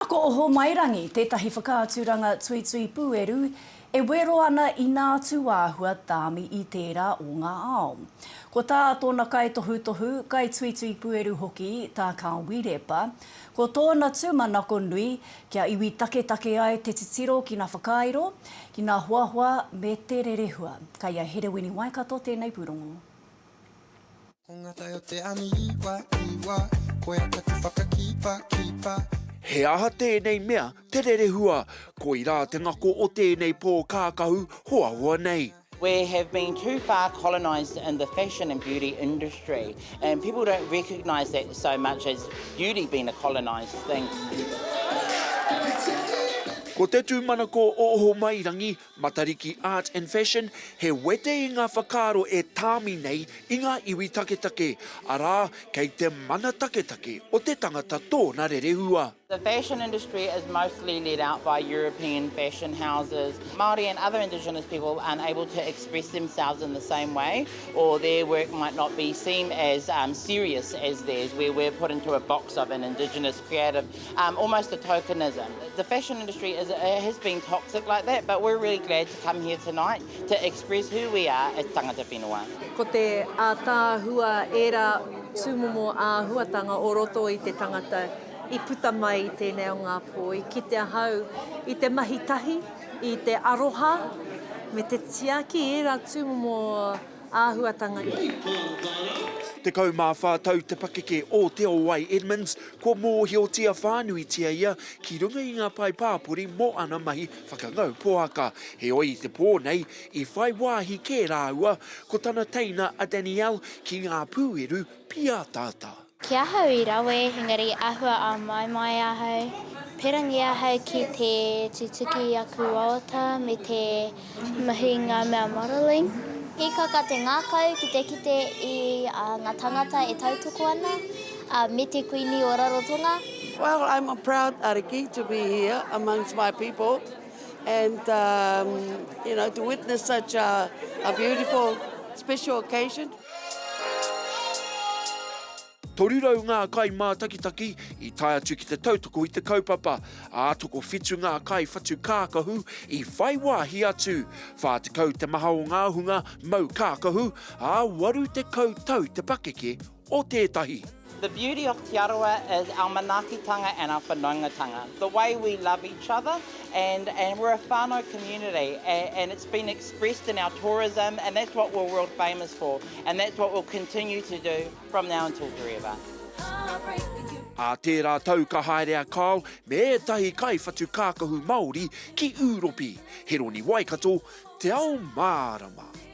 Ko Ohomairangi tētahi whakaaturanga tuitui pūeru e wero ana i nā tūāhua tāmi i tērā o ngā ao. Ko tā tōna kaitohutohu, kaituitui pūeru hoki tā Kāwi Repa, ko tōna tūmanako nui kia iwi taketake ai te titiro ki nā whakairo, ki nā hoahoa me te rerehua. Kei a Herewini Waikato tēnei pūrongo. Ko ngā tai o te aniiwa, iwa, koia taku whakakipa, kipa. He aha tēnei mea te rerehua? Koirā te ngako o tēnei pō kākahu hoahoa nei. We have been too far colonised in the fashion and beauty industry and people don't recognise that so much as beauty being a colonised thing. Ko te tūmanako o Ohomairangi Matariki Art and Fashion, he wete i ngā whakaaro e tāmi nei i ngā iwi taketake, arā, kei te mana taketake o te tangata tōna rerehua. The fashion industry is mostly led out by European fashion houses. Māori and other indigenous people aren't able to express themselves in the same way, or their work might not be seen as serious as theirs, where we're put into a box of an indigenous creative, um, almost a tokenism. The fashion industry is, has been toxic like that, but we're really glad to come here tonight to express who we are as tangata whenua. Ko te ātaahua ērā tūmomo āhuatanga o roto i te tangata i puta mai i tēnei o ngā pō, i kite ahau i te mahi tahi, i te aroha, me te tiaki ērā tūmomo āhuatanga nei. Tekau mā whā tau te pakeke o Te Owai Edmonds, kua mōhiotia whānuitia ia ki runga i ngā pae pāpori mō ana mahi whakangau poaka, heoi i te pō nei, i whai wāhi kē rāua ko tana teina a Danielle ki ngā pūeru pīataata. Ki ahau i rawe, engari ahua āmaimai ahau, perangi ahau ki te tutuki i aku wawata me te mahi i ngā mea modelling. Hīkaka te ngākau ki te kite i ngā tāngata e tautoko ana, ā, me te Kuini o Rarotonga. Well I'm a proud ariki to be here amongst my people and you know to witness such a beautiful special occasion. 300 ngā kai mātakitaki i tae atu ki te tautoko i te kaupapa, ā, tokowhitu ngā kai whatu kākahu i whai wāhi atu, 40 te maha o ngā hunga mau kākahu, ā, 80 tau te pakeke o tētahi. The beauty of Te Arawa is our manaakitanga and our whanaungatanga. The way we love each other and and we're a whānau community and it's been expressed in our tourism and that's what we're world famous for and that's what we'll continue to do from now until forever. Ā tērā tau ka haere a Kyle me ētahi kaiwhatu kākahu Māori ki Ūropi, Heroni Waikato, Te Ao Mārama.